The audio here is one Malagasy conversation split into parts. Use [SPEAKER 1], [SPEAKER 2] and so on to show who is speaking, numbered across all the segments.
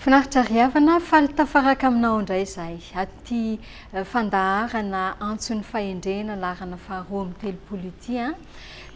[SPEAKER 1] Finaritra ry havana, faly tafaraka aminao indray izahay. Aty eh, fandaharana antson'ny fahendrena laharana faharoa amby telopolo ity an.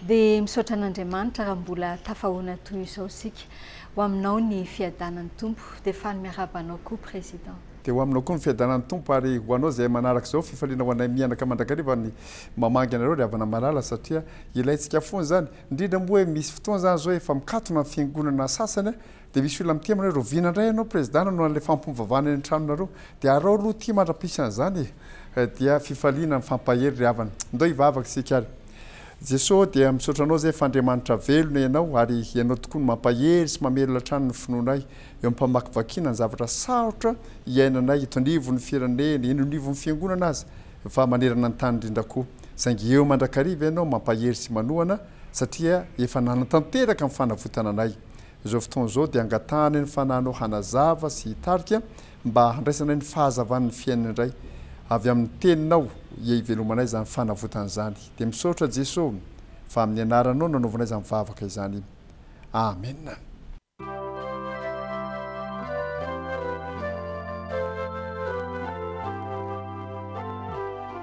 [SPEAKER 1] Dia misaotra an'Andriamanitra raha mbola tafahoana toy izao isika. Ho aminao ny fiadanan'ny Tompo. Dia faly miarahaba anao koa Président. Dia ho aminao koa ny
[SPEAKER 2] fiadanan'ny Tompo ary ho anao izay manaraka izao fifaliana ho anay mianaka mandrakariva ny mamangy anareo ry havana malala satria ilaintsika foana izany indrindra moa hoe misy fotoana izany izao efa mikatona ny fiangonana sasany Dia misy olona mitia aminareo, roviana indray ianao Prezida nanao an'ilay fampivavahana eny an-tranonareo, dia arao aloha ity mandra-pihisy an'izany e! dia fifaliana mifampahery ry havana. Ndao hivavaka isika ary. Jeso ô, dia misaotra Anao izay fa Andriamanitra velona Ianao ary Ianao tokoa no mampahery sy mamelona hatrany ny finoanay eo am-pamakivakiana ny zavatra sarotra iainanay eto anivon'ny firenena, eny anivon'ny fiangonana aza fa manerana ny tany indrindra koa. Saingy eo mandrakariva Ianao mampahery sy manohana satria efa nanantanteraka ny fanavotana anay. Izao fotoana izao dia angatahana eny fa nanao hanazava sy hitarika mba handraisana ny fahazavan'ny fiainana indray. Avy amin'ny teninao ia ivelomanay izany fanavotana izany. Dia misaotra Jeso fa amin'ny anaranao no nanaovanay izany vavaka izany. Amen.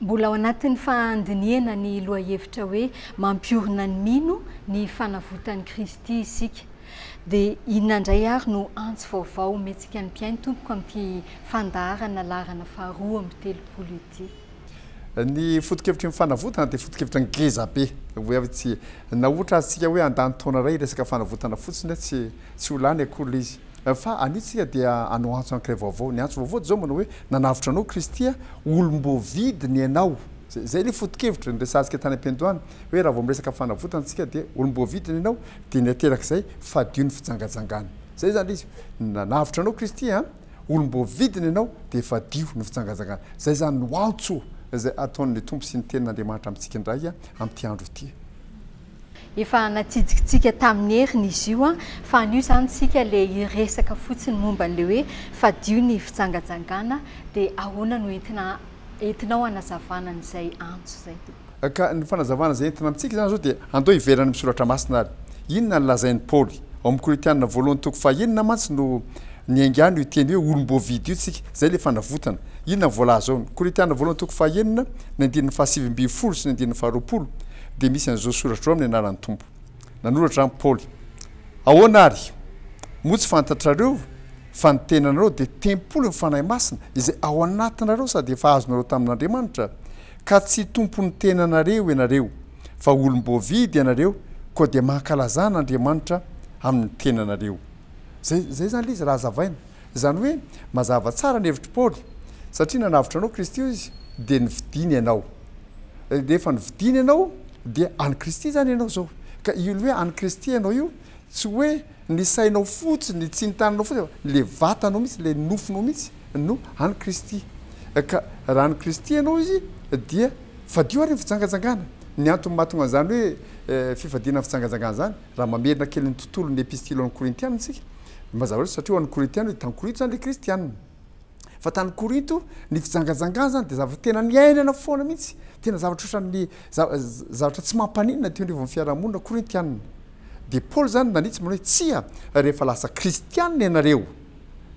[SPEAKER 1] Mbola ao anatin'ny fahandinihana ny lohahevitra hoe mampiorina ny mino ny fanavotan'i Kristy isika. Dia inona indray ary no antso vaovao omentsika ny mpihaino tompoko amin'ity fandaharana laharana faharoa amby telopolo ity? Ny
[SPEAKER 2] foto-kevitry ny fanavotana dia foto-kevitra ngeza be. Hoe avy tsy nahoatra azontsika hoe handany taona iray hiresaka fanavotana fotsiny tsy tsy ho lany akory izy. Fa anio isika dia hanao antso ankiray vaovao. Ny antso vaovao dia izao manao hoe, nanavotra anao Kristy a, olom-boavidiny ianao. Izay izay ilay foto-kevitra niresahantsika tany am-piandohana hoe raha vao miresaka fanavotana isika dia olom-boavidiny ianao dia ny ateraka izay fadio ny fijangajangana. Izay izany ilay izy. Nanavotra anao Kristy a, olom-boavidiny ianao dia fadio ny fijangajangana. Izay izany no antso izay ataon'ny Tompo sy ny Tenin'Andriamanitra amintsika indray amin'ity andro ity. Efa
[SPEAKER 1] natsidikintsika tamin'ny heriny izy io fa anio izany isika le hiresaka fotsiny momba an'le hoe fadio ny fijangajangana dia ahoana no entina entinao hanazavana an'izay antso izay tompoko? Ka ny fanazavana izay
[SPEAKER 2] entina amintsika izany izao dia andao hiverina amin'ny soratra masina ary inona no lazain'i Paoly? Ao amin'ny Korintiana voalohany toko faha enina mantsy no niaingano io teny hoe olom-boavidy io tsika, izay ilay fanavotana. Inona no voalaza ao? Ny Korintiana voalohany toko faha enina, ny andininy faha sivy ambin'ny folo sy ny andininy faha roapolo. dia misy an'izao soratra izao amin'ny anaran'ny Tompo. Nanoratra an Paoly, Ahoana ary? Moa tsy fantatrareo fa ny tenanareo dia tempolin'ny Fanahy Masina izay ao anatinareo sady efa azonareo tamin'Andriamanitra, ka tsy tompon'ny tenanareo ianareo, fa olom-boavidy ianareo, koa dia mankalazà an'Andriamanitra amin'ny tenanareo. Zay, zay zany le izy raha hazavaina. Izany hoe, mazava tsara ny hevitr'i Paoly, satria nanavotra anao Kristy hoy izy, dia novidiany ianao. Rehefa novidiany ianao dia an'i Kristy izany ianao izao. Ka io hoe an'i Kristy ianao io, tsy hoe ny sainao fotsiny, tsy ny tananao fotsiny, fa ilay vatanao mihitsy, ilay nofonao mihitsy no an'i Kristy. Ka raha an'i Kristy ianao izy dia fadio ary ny fijangajangana. Ny antony mahatonga an'izany hoe fifadiana ny fijangajangana izany, Raha mamerina kely ny tontolon'ny Epistily ho an'ny Korintiana isika, dia mazava loatra satria ho an'ny Korintiana dia tany Korinto izany ilay Kristiana. Fa tany Korinto, ny fijangajangana izany dia zavatra tena niainana foana mihitsy, tena zavatra ohatran'ny zavatra tsy mampaninona teo anivon'ny fiarahamonina korintiana. Dia Paoly izany nanitsy manao hoe, Tsia, rehefa lasa Kristiana ianareo,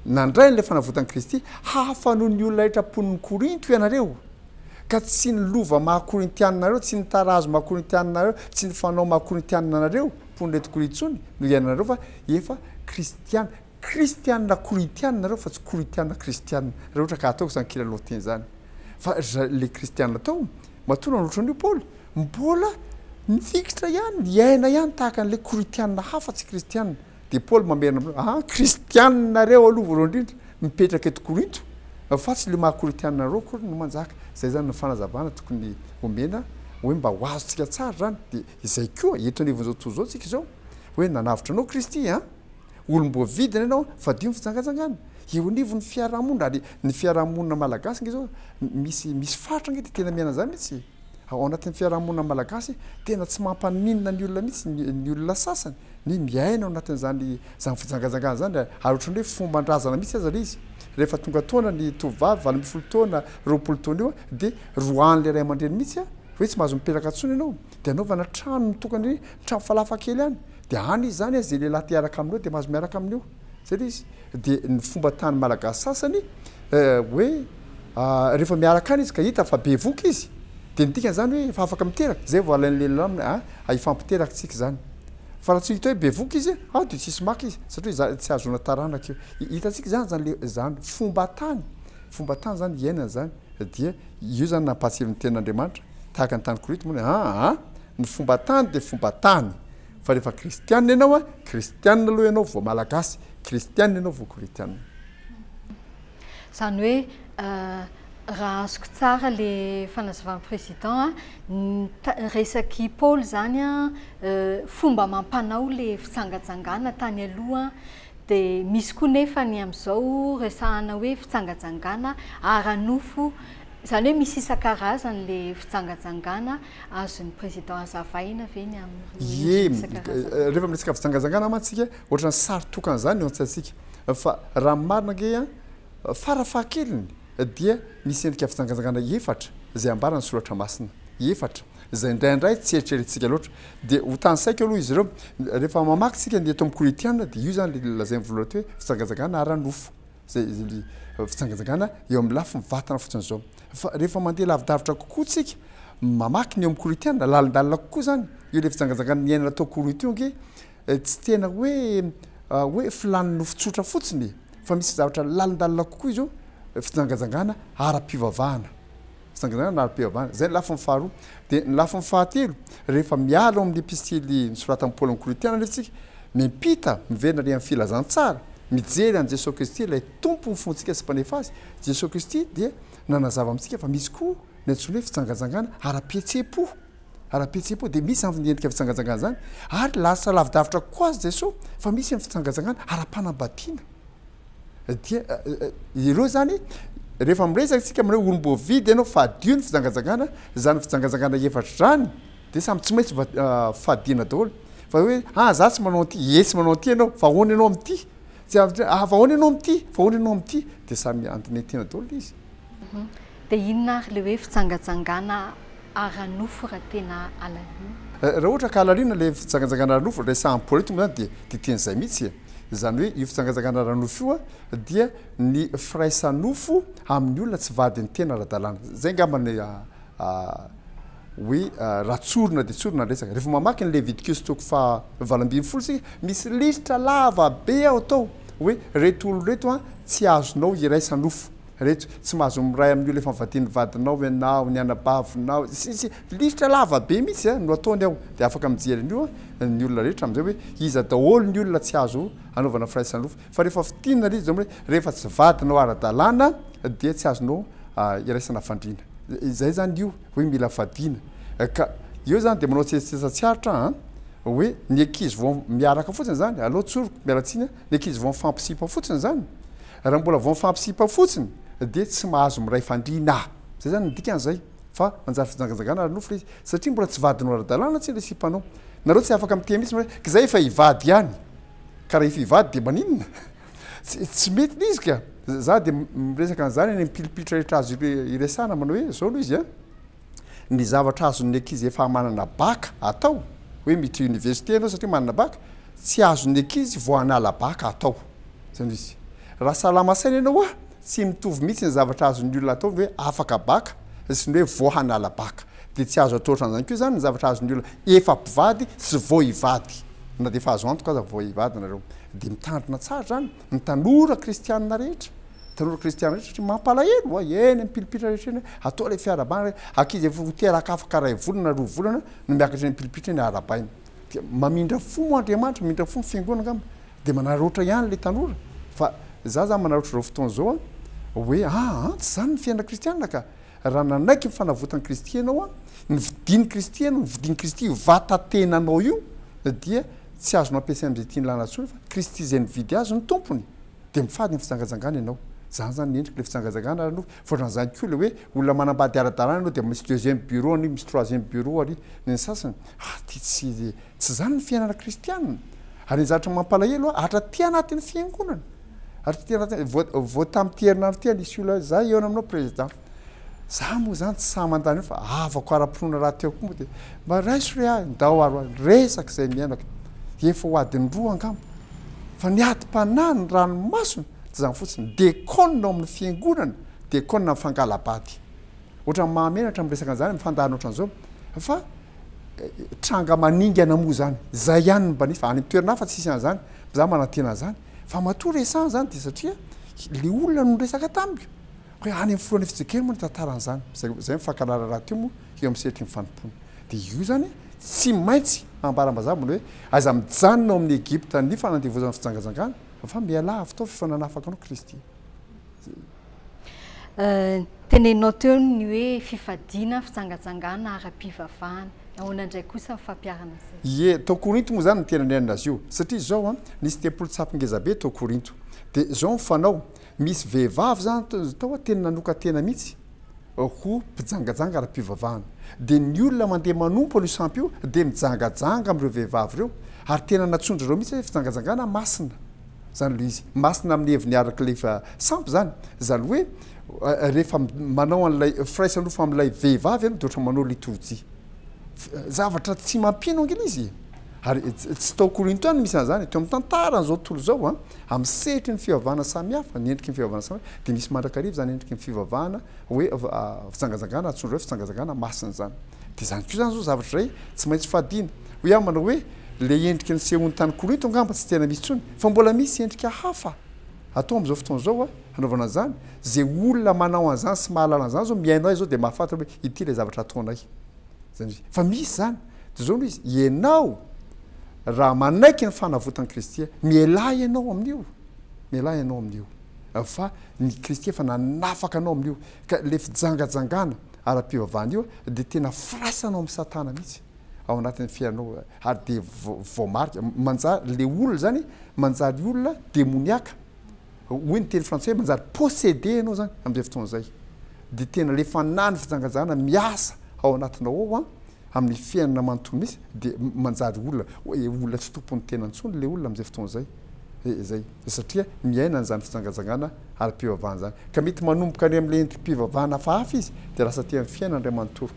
[SPEAKER 2] nandray an'ilay fanavotan'i Kristy, hafa noho ny olona rehetra mponin'i Korinto ianareo. Ka tsy ny lova maha Korintiana anareo, tsy ny tarazo maha Korintiana anareo, tsy ny fanao maha Korintiana anareo, mponin'ireto Korintsony, no iainanareo fa efa Kristiana. Kristiana Korintiana nareo fa tsy Korintiana Kristiana. Raha ohatra ka ataoko izany kilalao teny izany. Fa ry zareo ilay Kristiana tao, matoa nanolotra an'io Paoly, mbola mifikitra ihany, miaina ihany tahaka an'ilay Korintiana hafa tsy Kristiana. Dia Paoly mamerina amin'ireo, Aa, kristianina nareo aloha voalohany indrindra, mipetraka eto Korinto, fa tsy ilay maha korintianina anareo akory no manjaka. Izay izany ny fanazavana tokony homena, hoe mba ho azontsika tsara izany. Dia izay koa, eto anivon'izao tontolo izao isika izao, hoe nanavotra anao Kristy an! olom-boavidina ianao, fadio ny fijangajangana. Eo anivon'ny fiaraha-monina, ary ny fiaraha-monina malagasy ange izao, misy, misy faritra ange dia tena miaina an'izany mihitsy. Ao anatin'ny fiarahamonina malagasy, tena tsy mampaninona ny olona mihitsy ny olona sasany ny miaina ao anatin'izany izany fijangajangana izany, ary ohatran'ny hoe fomban-drazana mihitsy aza ilay izy. Rehefa tonga taona ny tovovavy, valo ambin'ny folo taona, roapolo taona eo, dia roahan'ilay ray aman-dreny mihitsy hoe tsy mahazo mipelaka intsony ianao, dia anaovana trano mitokana, trano falafa kely any, dia any izy izany, izay lehilahy te hiaraka aminao dia mahazo miaraka amin'io. Zay le izy. Dia ny fomba tany malagasy sasany hoe rehefa miaraka any izy ka hita fa bevoka izy dia ny dikany zany hoe efa afaka miteraka, zay vao alain'ny lehilahy hoe a hifampiteraka tsika izany. Fa raha tsy hita hoe bevoka izy a dia tsisy maka izy satria izany tsy ahazoana taranaka io. Hitantsika izany zany le zany fomba tany, fomba tany zany iainana zany dia io zany nampahatsiron'ny tenin'Andriamanitra tahaka ny tany Korito moa a a ny fomba tany dia fomba tany. Fa rehefa kristianina ianao a, kristianina aloha ianao vao malagasy, kristianina ianao vao koritianina.
[SPEAKER 1] Izany hoe raha azoko tsara le fanazavan'i président a, ny resak'i Paoly izany a, fomba amam-panao le fijangajangana tany aloha, dia misy koa nefa ny amin'izao resahana hoe fijangajangana ara-nofo, izany hoe misy isan-karazany le fijangajangana Azon'ny Président hazavaina ve ny amin'ireo endriny isan-karazany
[SPEAKER 2] ireo? Rehefa miresaka fijangajangana mantsy isika, ohatran'ny sary tokana izany eo an-tsaintsika. Fa raha ny marina ange, fara fahakeliny dia misy endrika fijangajangana efatra izay ambaran'ny Soratra Masina. Efatra, izay indraindray tsy eritreretintsika loatra. Dia ho tanisaiko aloha izy ireo. Rehefa mamaky isika ny eto amin'ny Korintiana dia io izany ilay lazain'ny voalohany eto hoe fijangajangana ara-nofo. izay fijangajangana eo amin'ny lafiny vatana fotsiny izao. Fa rehefa mandeha lavidavitra kokoa tsika, mamaky ny eo amin'ny koroitiana, lalindalina kokoa izany, eo ilay fijangajangana niainana tao Koroitiongy, eh, tsy tena hoe ah, hoe filàn'ny nofo tsotra fotsiny, fa misy zavatra lalindalina kokoa izy io, fijangajangana ara-pivavahana. Fitsanganana na ara-pivavahana. Izay ny lafiny faharoa. Dia ny lafiny fahatelo, rehefa miala ao amin'ny epistily nosoratan'i Paoly amin'ny Korintiana anefa isika, miampita, miverina ary amin'ny filazantsara, mijery an'i Jesoa Kristy, ilay Tompo ny fontsika sy Mpanefa azy. Jesoa Kristy dia nanazava amintsika fa misy koa ny antsoina hoe fitsangantsangana ara-pihetseham-po. Ara-pihetseham-po, dia misy izany endrika fitsangantsangana izany. Ary lasa lavidavitra kokoa aza Jesoa fa misy ny fitsangantsangana ara-panambadiana. dia ireo izany rehefa miresaka isika amin'ireo olom-boavidy ianao fadio ny fijangajangana, izany fijangajangana efatra izany dia samy tsy maintsy fadiana daholo fa hoe ah za tsy manao an'ity, ye tsy manao an'ity ianao fa ahoana ianao amin'ity? ah fa ahoana ianao amin'ity? fa ahoana ianao amin'ity? dia samy andinihitihina daholo ilay izy. Dia
[SPEAKER 1] inona ary ilay hoe fijangajangana ara-nofo raha tena alalina? Raha ohatra ka alalina
[SPEAKER 2] ilay fijangajangana ara-nofo, ilay sahan'ny politika moa izany dia dia teny izay mihitsy e! Izany hoe io fijangajangana ara-nofo io dia ny firaisan-nofo amin'ny olona tsy vadin'ny tena ara-dalàna. Izay angamba no hoe raha tsorina dia tsorina ny resaka. Rehefa mamaky ny Levitikiosy toko faha valo ambin'ny folo isika, misy lisitra lava be ao tao hoe ireto olona ireto tsy azonao iraisa-nofo. Reto, tsy mahazo miray amin'ny olona efa nivadian'ny vadinao ianao, ny anabavinao, sy ny sisa Lisitra lava be mihitsy a no ataony ao, dia afaka mijery an'io a ny olona rehetra amin'izay hoe iza daholo ny olona tsy azo anaovana firaisan'ny roa. Fa rehefa fintinina ilay izy dia hoe rehefa tsy vadinao ara-dalàna dia tsy azonao iraisana fandriana. Izay izany io hoe mila fadiana. Ka eo izany dia manao tsetsitsetsa tsy aritra an! hoe ny ankizy vao miaraka fotsiny izany, aleo tsoriko, miala tsiny a, ny ankizy vao mifampisipa fotsiny izany, Raha mbola vao mifampisipa fotsiny dia tsy mahazo miray fandriana. Zay zany ny dikany zay fa manjary fijangajangana ary nofy le izy satria mbola tsy vadinao ara-dalàna tsia le sipanao. Nareo tsy afaka miteny mitsy hoe k'izay efa hivady ihany. Ka raha efa hivady dia maninona? Tsy tsy mety le izy ka. Za dia miresaka an'zany any amin'ny pilipilitra rehetra azo iresahana manao hoe zao aloha izy an. ny zavatra azon'ny ankizy efa manana baka atao, hoe miditra université ianao satria manana baka, tsy azon'ny ankizy vao hanala baka atao. Izay no izy. Raha salama saina ianao hoa, tsy mitovy mihitsy ny zavatra azon'ny olona atao ny hoe afaka baka sy ny hoe vao hanala baka. Dia tsy azo atao ohatran'izany koa izany ny zavatra azon'ny olona efa mpivady sy vao hivady. Na dia efa azo antoka aza fa vao hivady ianareo. Dia mitandrina tsara izany. Ny tanora kristianina rehetra, tanora kristianina rehetra satria mampalahelo hoa eny am-pilipitra rehetra eny hoe atao ilay fiarahabana re, ankizy efa ho teraka afaka iray volana na roa volana no miakatra eny am-pilipitra eny arahabaina. Dia mamindra fo moa Andriamanitra, mamindra fo ny fiangonana angamba dia manararaotra ihany ilay tanora. Fa izaho izany manararaotra izao fotoana izao hoe aa tsy izany ny fiainana kristianina ka! Raha nanaiky ny fanavotan'i Kristy ianao, ny fidin'i Kristy ianao, ny fidin'i Kristy io vatan-tenanao io, dia tsy azonao ampiasaina amin'izay tian'ny lalana intsony fa Kristy izay nividy azy no tompony. Dia mifady amin'ny fijangajangana ianao. Izany izany ny endriky ilay fijangajangana ary aloha voatran'izany koa ilay hoe olona manambady ara-dalàna ianao dia misy deuxième bureau ary misy troisième bureau ary ny sasany. Ah, dia tsy, tsy izany ny fiainana kristiana. Ary ny zavatra mampalahelo, atra aty anatin'ny fiangonana, ary tsy tena vao vao tamin'ity herinandro ity nisy olona hoe za hihaona aminao président za moa zany tsy sahy mandany io fa havako ara-pinoana rahateo koa moa dia mba raiso re ahy ndao ary hoany resaka izay miainako efa ho adiny roa angamba fa ny adim-panahy ny ranomasony tsy zany fotsiny dekona ao amin'ny fiangonana dekona ny fangalabady ohatrany mahamenatra amin'ny resaka an'izany mifandahana ohatran'izao fa eh, tranga maningana moa zany izay ihany ny mba nisy fa any amin'ny toerana hafa tsisy an'izany za manantena an'izany Fa matoa resahana izany dia satria ilay olona no niresaka tamiko hoe any amin'ny filohan'ny FJKM moa ny tantaran'izany, izay izay mifankahala raharaha teo moa eo amin'ny sehatry ny fanompoana. Dia io izany tsy maintsy ambara mazava ny hoe aiza mijanona ao amin'ny Egypta ny fanandevozana fijangajangana fa mialà avy tao fa efa nanafaka anao Kristy.
[SPEAKER 1] Teneninao teo ny hoe fifadiana, fijangajangana, ara-pivavahana. Ahoana indray kosa ny fampiharana izay? Ie, tao Korinto
[SPEAKER 2] moa izany no tena niainana azy io. Satria izao, nisy tempoly tsapy ngeza be tao Korinto. Dia izao ny fanao, misy vehivavy izany tao tena nanokan-tena mihitsy ho mpijangajanga ara-pivavahana. Dia ny olona mandeha manompo an'io sampy io dia mijangajanga amin'ireo vehivavy ireo, ary tena natsondry ireo mihitsy hoe fijangajangana masina. Zany aloha izy masina amin'ny heviny araka ilay efa sampy zany. Zany hoe rehefa manao an'ilay firaisana nofo amin'ilay vehivavy ianao dia ohatran'ny manao litorjia. Zavatra tsy mampino ange ilay izy e! Ary tsy tao Korinto ihany no misy an'izany e, teo amin'ny tantaran'izao tontolo izao an, amin'ny sehatry ny fivavahana samihafa, ny endriky ny fivavahana samihafa dia misy mandrakariva izany endriky ny fivavahana hoe fijangajangana antsoindreo hoe fijangajangana masina izany. Dia izany koa izany izao zavatra iray tsy maintsy fadiana. Hoy aho manao hoe Ilay endrika nisehoany tany Korinto angamba tsy tena misy intsony, fa mbola misy endrika hafa atao amin'izao fotoana izao hanaovana an'izany. Izay olona manao an'izany sy mahalala an'izany izao mihaino ahy izao dia mahafantatra hoe ity ilay zavatra ataonay. Fa misy izany. Dia izao no izy, ianao raha manaiky ny fanavotan'i Kristy, mialà ianao amin'io, mialà ianao amin'io, fa ny Kristy efa nanafaka anao amin'io. Ka ilay fijangajangana ara-pivavahana io dia tena firaisana ao amin'i Satana mihitsy. ao anatin'ny fiainanao ary dia voamarika manjary le olona zany manjary olona demoniaka hoy ny teny frantsay hoe manjary possédé ianao zany amin'izay fotoana izay dia tena le fanahy ny fijangajana miasa ao anatinao ao a amin'ny fiainana manontolo misy dia manjary olona hoe olona tsy tompon'ny tena intsony le olona amin'izay fotoana izay izay satria miaina an'izany fijangajangana ara-pivavahana izany ka mety manomboka any amin'ilay endri-pivavahana hafahafa izy dia lasa aty amin'ny fiainana indray manontolo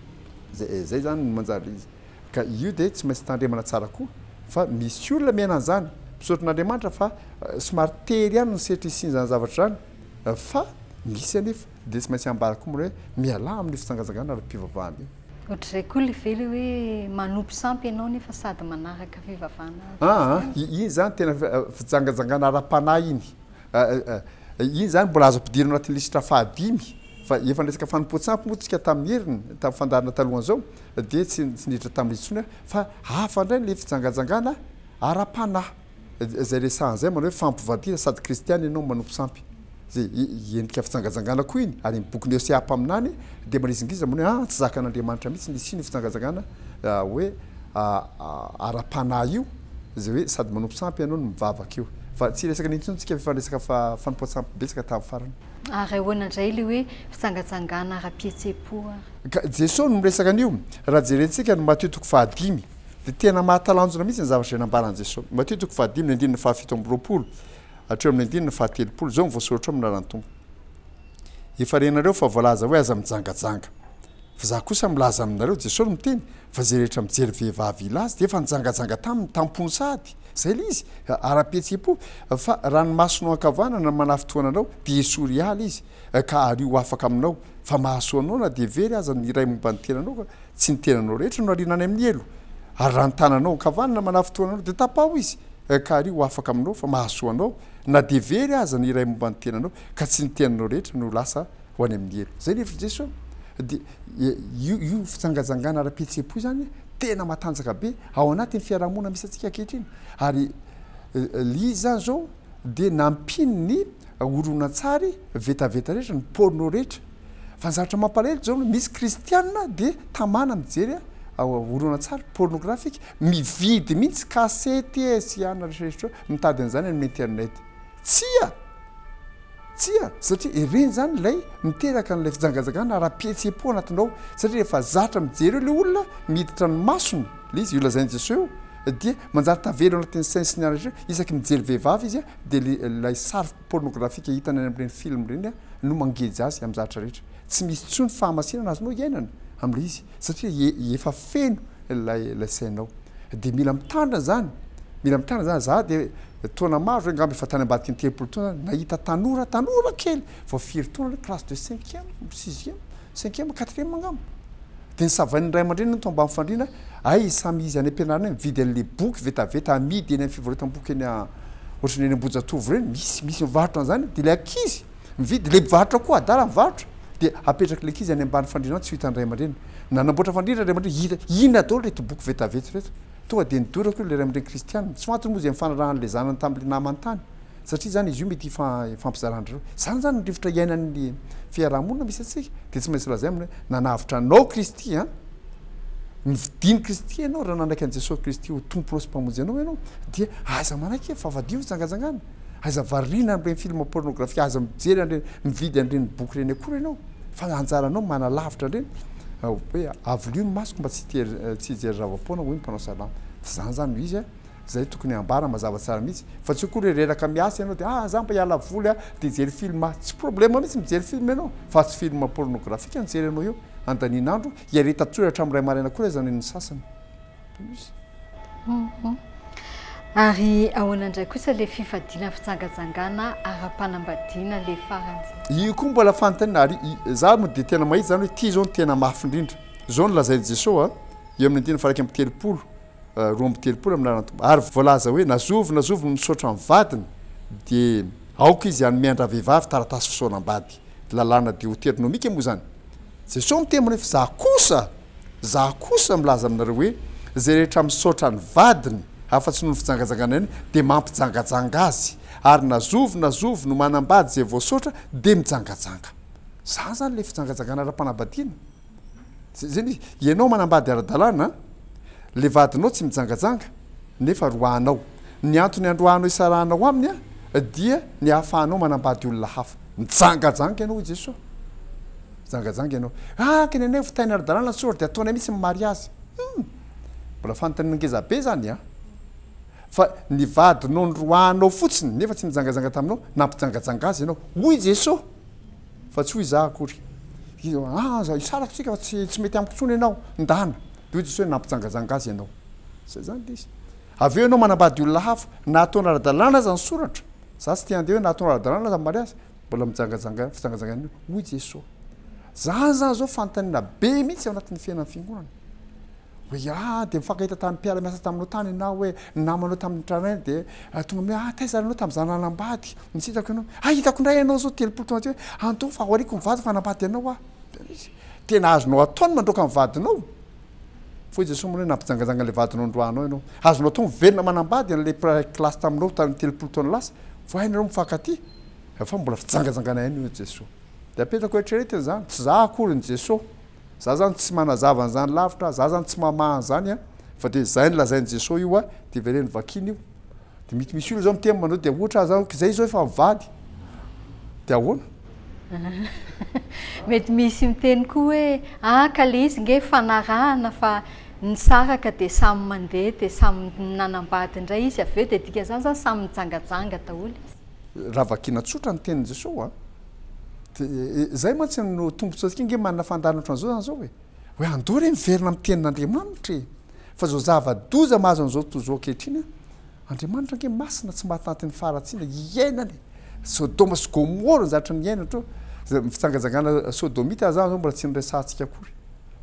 [SPEAKER 2] Zay zany no manjary izy. Ka io dia tsy maintsy tandremana tsara koa fa misy olona miaina an'izany, mpisaotra an'Andriamanitra fa somary tery ihany ny sehatry hisian'izany zavatra izany fa misy anefa dia tsy maintsy ambara koa mora hoe mialà amin'io fijangajangana ara-pivavahana io. Ohatr'izay koa ilay very
[SPEAKER 1] hoe manompo sampy ianao nefa sady manaraka fivavahana Kristy. Aa, iny izany tena
[SPEAKER 2] fijangajangana ara-panahy iny. Iny izany mbola azo ampidirina ao anatin'ny lisitra fahadimy fa efa niresaka fanompoan-tsampy moa isika tamin'ny heriny, tamin'ny fandaharana talohan'izao dia tsy niditra tamin'ilay intsony aho fa hafa indray ilay fijangajangana ara-panahy izay resahana izay manao hoe fampivadiana sady kristiana ianao no manompo sampy izay endrika fijangajangana koa iny ary ny bokin'i Hosea mpaminany dia manizingizina manao hoe an tsy zakan'Andriamanitra mihitsy ny hisian'io fijangajangana hoe ara-panahy io. Izay hoe sady manompo sampy ianao no mivavaka io. Fa tsy resaka intsony tsika fa resaka fa fanompoan-tsampy betsaka tamin'ny farany. Ary ahoana indray
[SPEAKER 1] ilay hoe fijangajangana ara-pihetsem-po ary? Ka Jesoa
[SPEAKER 2] no miresaka an'io. Raha jerentsika ny Matio toko fahadimy dia tena mahatalanjona mihitsy ny zavatra izay nambaran'i Jesoa. Matio toko fahadimy ny andininy fahafito amby roapolo hatreo amin'ny andininy fahatelopolo izao no voasoratra ao amin'ny Lalàn'ny Tompo. Efa renareo fa voalaza hoe aza mijangajanga. Fa za kosa milaza aminareo, Jesosy miteny, fa zay rehetra mijery vehivavy hilaza, dia efa nijangajanga taminy, tam-pony sady, zay le izy, ara-pihetseham-po, fa raha ny masonao ankavanana no manafitohana anao, dia esory hiala izy, ka ario ho afaka aminao, fa mahasoa anao na dia very aza ny iray momba ny tenanao, fa tsy ny tenanao rehetra no ariana any amin'ny helo, ary raha ny tananao ankavanana manafitohana anao, dia tapaho izy, ka ario ho afaka aminao, fa mahasoa anao, na dia very aza ny iray momba ny tenanao, ka tsy ny tenanao rehetra no lasa ho any amin'ny hery. Izay ny hevitr'i Jeso. Dia io io fijangajangana ara-pihetseham-po izany tena matanjaka be ao anatin'ny fiarahamonina misy antsika ankehitriny. Ary lia izany izao dia nampiany ny horonantsary vetaveta rehetra, ny porno rehetra. Fa ny zavatra mampalahelo izao no misy kristiana dia tamana mijery horonantsary pornographique, mividy mihitsy kasety e sy anona rehetra rehetra eo, mitady an'izany any amin'ny internet. Tsia! Tsia! Satria hereny izany ilay miteraka an'ilay fijangajangana ara-pihetseham-po anatinao. Satria rehefa zatra mijery eo ilay olona, miditra ny masony, ilay izy, io lazain'i Jesoa io, dia manjary tavela ao anatin'ny sain'ny signal rehetra hoe isaky mijery vehivavy izy, dia ilay sary pornografika hitany any amin'ireny film ireny no mangeja azy amin'ny zavatra rehetra. Tsy misy intsony fahamasinana azonao iainana amin'ilay izy. satria efa feno ilay sainao dia mila mitandrina izany, mila mitandrina izany, za dia taona maro ve ngamba efa tany ambadiky ny telopolo taona aho nahita tanora, tanora kely vao firy taona ilay classe de cinquième, sixième, cinquième, quatrième ngamba dia nosavain'ny ray aman-dreniny tao ambany fandriana, hay samy izy any am-pianarana any mividy an'ilay boky vetaveta amidy eny amin'ny fivarotam-boky eny ohatran'ny eny Ambohijatovo ireny, misy, misy mivarotra an'izany dia ilay ankizy, Mividy, ilay mpivarotra koa adala mivarotra dia apetraky ilay ankizy any ambany fandriana any tsy ho hitan'ny ray aman-dreniny. Nanamboatra fandriana ny ray aman-dreniny, hita, inona daholo ireto boky vetavety ireto. Tonga dia nidoraka eo ilay ray aman-dreny kristianina. Tsy ho antony moa izay nifanarahan'ilay zanany tamin'ilay namany tany, satria izany izy io mety hifampizaran-dry zareo. Izany izany ny rivotra iainan'ny fiaraha-monina misy antsika, dia tsy maintsy lazaina aminy hoe, nanavotra anao Kristy an! Novidian'i Kristy ianao, raha nanaiky an'i Jesosy Kristy ho Tomponao sy Mpamonjy anao ianao, dia aza manaiky fahafadiana ho jangajangana. Aza variana amin'ireny film pornografia, aza mijery an'ireny, mividy an'ireny boky ireny akory ianao fa ny anjaranao manalavitra an'ireny. Hoe avolio ny masoko mba tsy hijery zava-poana hoy ny mpanao salamo. Tsy izany izany no izy a! Izay tokony hambara mazava tsara mihitsy. Fa tsy akory hoe reraka miasa ianao dia ah! Za mba hiala voly a! Dia hijery film. Tsy problema mihitsy mijery film ianao fa tsy film pornografika no jerenao eo handaniana andro, hiaretan-tsoratra amin'ny iray maraina akory aza ny an'ny sasany.
[SPEAKER 1] Ary ahoana indray kosa ilay fifadiana fijangajangana ara-panambadiana ilay farany zany? Io koa mbola fanontaniana
[SPEAKER 2] ary za moa dia tena mahita zany hoe ity zao no tena mafy indrindra. Zao no lazain'i Jesosy eo amin'ny andininy faha iraika amby telopolo, roa amby telopolo amin'ny anaran'ny Tompo. Ary voalaza hoe na zovy na zovy misaotra ny vadiny dia aoka izy hanome an-dravehivavy taratasy fisaonam-bady. Lalàna deoteronomika moa izany. Jesosy miteny manao hoe fa za kosa. Za kosa milaza aminareo hoe zay rehetra misaotra ny vadiny afa-tsy noho ny fijangajanganany dia mampijangajanga azy ary na zovy na zovy no manambady zay voasaotra dia mijangajanga. Zany zany ilay fijangajangana ara-panambadiana. Zay zay izy. Ianao manambady ara-dalàna, ilay vadinao tsy mijangajanga nefa roahanao. Ny antony handroahanao hisarahanao aminy dia ny ahafahanao manambady olona hafa. Mijangajanga ianao hoy Jesoa. Mijangajanga ianao. Haka ny anay ho fitahiana ara-dalàna sao ary dia ataonay mihitsy ny mariazy. Humm! Mbola fantan'ny ngezabe izany an! Fa ny vadinao noroahanao fotsiny nefa tsy nijangajanga taminao, nampijangajanga azy ianao. Hoy Jesoa! Fa tsy hoy izaho akory. Aza hisaraka isika fa tsy tsy mety amiko intsony ianao, ndana. Dia hoy Jesoa hoe nampijangajanga azy ianao. Izay izany ilay izy. Avy eo ianao manambady olona hafa, na ataonao ara-dalàna aza ny soratra, izaho tsy te handeha hoe na ataonao ara-dalàna aza ny mariazy, Mbola mijangajanga, fijangajangana io. Hoy Jesoa, Zany zany zao fanontaniana be mihitsy ao anatin'ny fiainan'ny fiangonana. Hoe ah dia mifankahita tamin'ny mpiara miasa taminao tany ianao hoe ny namanao tamin'ny tranainy dia ah, tonga amin'ny ah taiza ianao tamin'izaho nanambady no tsy hitako ianao. Ah hitako indray ianao zao telopolo taona aty hoe anto fa aoriako ny vadiko hanambady anao ah. Tena azonao atao ny mandroaka ny vadinao. Fa hoy Jesosy moa hoe nampijangajanga ilay vadinao nandroahanao ianao. Azonao atao miverina manambady an'ilay mpiray kilasy taminao tamin'ny telopolo taona lasa, vao hainy ianao mifankatia. Efa mbola fijangajangana ihany hoy Jesosy. Dia apetako eritreretina izany, tsy za akory ny Jesosy. Za zany tsy manazava an'izany lavitra, za zany tsy mamaha an'izany an! Fa dia izay nolazain'i Jesosy io an, dia vereno vakina io. Dia mety misy olona zao miteny manao dia ohatra za kizay izao efa mivady dia ahoana?
[SPEAKER 1] Mety misy miteny koa hoe a ka le izy nge fanarahana fa nisaraka dia samy mandeha dia samy nanambady indray izy avy eo dia dikan'izany zany samy nijangajanga daholo izy.
[SPEAKER 2] Raha vakiana tsotra ny tenin'i Jesosy a, dia zay mantsy no tombotsoantsika nge manana fandaharana ohatran'izao zany zao e. Hoe andao re miverina amin'ny tenin'Andriamanitra e! Fa izao zava-doza mahazo an'izao tontolo izao ankehitriny an! Andriamanitra ange masina tsy mahatanty ny faharatsiana iainany! Sodoma sy Gomora no zatra niaina teo. Izay fijangajangana sodomita zany izao mbola tsy noresahantsika akory.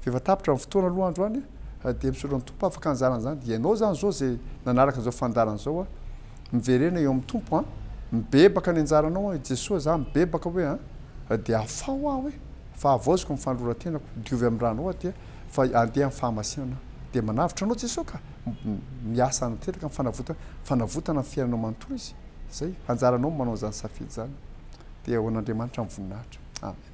[SPEAKER 2] Fa efa tapitra ny fotoana aloha andro any an! Dia misaotra ny Tompo afaka nizara an'izany. Ianao izany izao izay nanaraka an'izao fandaharana izao an! Miverena eo amin'ny Tompo an! Mibebaka ny anjaranao an! I Jesoa izaho mibebaka hoe an! Dia afaho aho e! Fa havaoziko ny fanoloran-tenako, diovy amin'ny rano aho aty fa andeha amin'ny fahamasinana aho. Dia manavotra anao Jesoa ka! Miasa tanteraka amin'ny fanavotana, fanavotana ny fiainanao manontolo Izy. Izay, anjaranao ny manao izany safidy izany. Dia ho an'Andriamanitra ny voninahitra. Amen.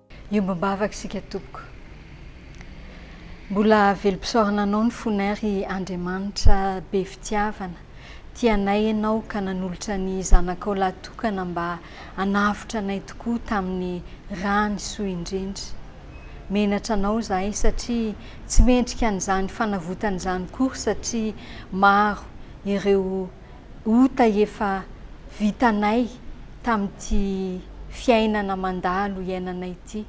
[SPEAKER 1] Iombom-bavaka isika tompoko. Mbola velom-pisaorana anao ny fonay ry Andriamanitra be fitiavana. Tianay ianao ka nanolotra ny zanakao lahy tokana mba hanavotra anay tokoa tamin'ny ra nisoa indrindra. Menatra anao izahay satria tsy mendrika an'izany fanavotana izany kory satria maro ireo ota efa vitanay tamin'ity fiainana mandalo iainanay ity.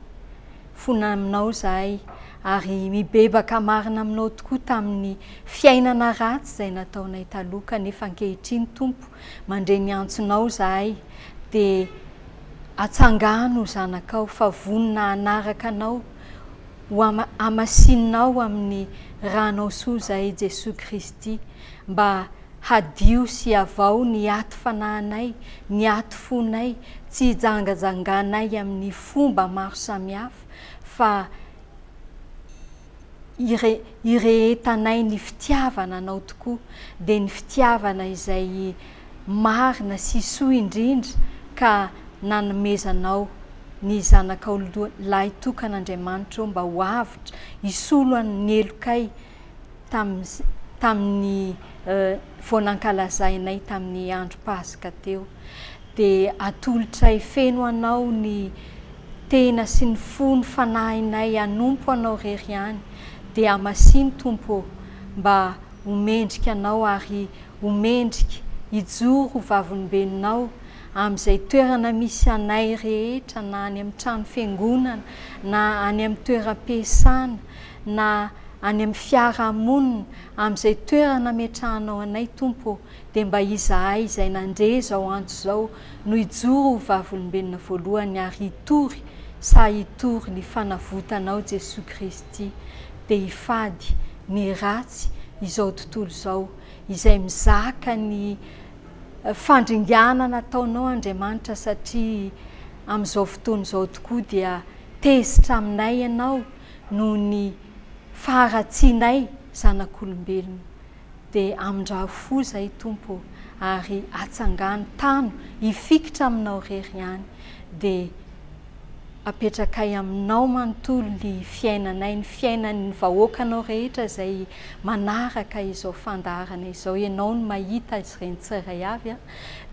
[SPEAKER 1] Fona aminao izahay ary mibebaka marina aminao tokoa tamin'ny fiainana ratsy izay nataonay taloha kanefa ankehitriny Tompo mandre ny antsonao izahay dia atsangano zanakao fa vonona hanaraka anao ho hamasinao amin'ny ranao sozay Jesoa Kristy mba hadio sy avao ny aty fanahinay, ny aty fonay tsy hijangajanganay amin'ny fomba maro samihafa fa hirehetanay ny fitiavana anao tokoa dia ny fitiavana izay marina sy soa indrindra ka nanomezanao ny zanakao lahy tokana Andriamanitra ô mba ho avotra hisolo an ny helokay tamin ny vao nankalazainay tamin ny andro paska teo dia atolotray feno anao ny tena sy ny fo ny fanahinay hanompo anao rery ihany dia amasino Tompo ô mba Ho mendrika anao ary ho mendrika hijoro ho vavolombelonao amin'izay toerana misy anay rehetra na any amin'ny trano fiangonana na any amin'ny toeram-piasana na any amin'ny fiarahamonina amin'izay toerana ametrahanao anay Tompo ô dia mba izahay izay nandre izao antso izao no hijoro ho vavolombelona voalohany ary hitory sa hitory ny fanavotanao Jesoa Kristy dia hifady ny ratsy izao tontolo izao izay mizaka ny fandringanana ataonao Andriamanitra satria amin'izao fotoana izao tokoa dia tezitra aminay ianao noho ny faharatsianay zanak'olombelona dia amindrao fo izay Tompo ô ary atsangano tano hifikitra aminao rery ihany dia apetrakay aminao manontolo ny fiainanay, ny fiainan'ny vahoakanao rehetra izay manaraka izao fandaharana izao, ianao no mahita azy ireny tsirairay avy an!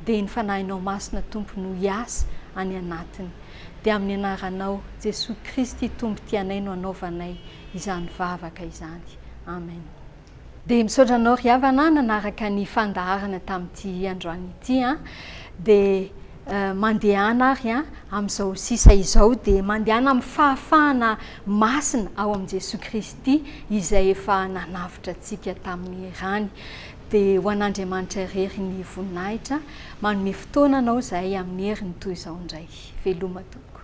[SPEAKER 1] dia ny Fanahinao Masina Tompo no hiasa any anatiny, dia amin'ny Anaranao Jesoa Kristy Tompo tianay no anaovanay izany vavaka izany. Amen. Dia misaotra anao ry havana nanaraka ny fandaharana tamin'ity androany ity an! Dia mandehana ary an! Amin'izao sisa izao dia mandehana amin'ny fahafahana masina ao amin'i Jesoa Kristy izay efa nanavotra antsika tamin'ny rany. Dia ho an'Andriamanitra irery ny voninahitra. Manome fotoana anao izahay amin'ny heriny toy izao indray. Veloma tompoko.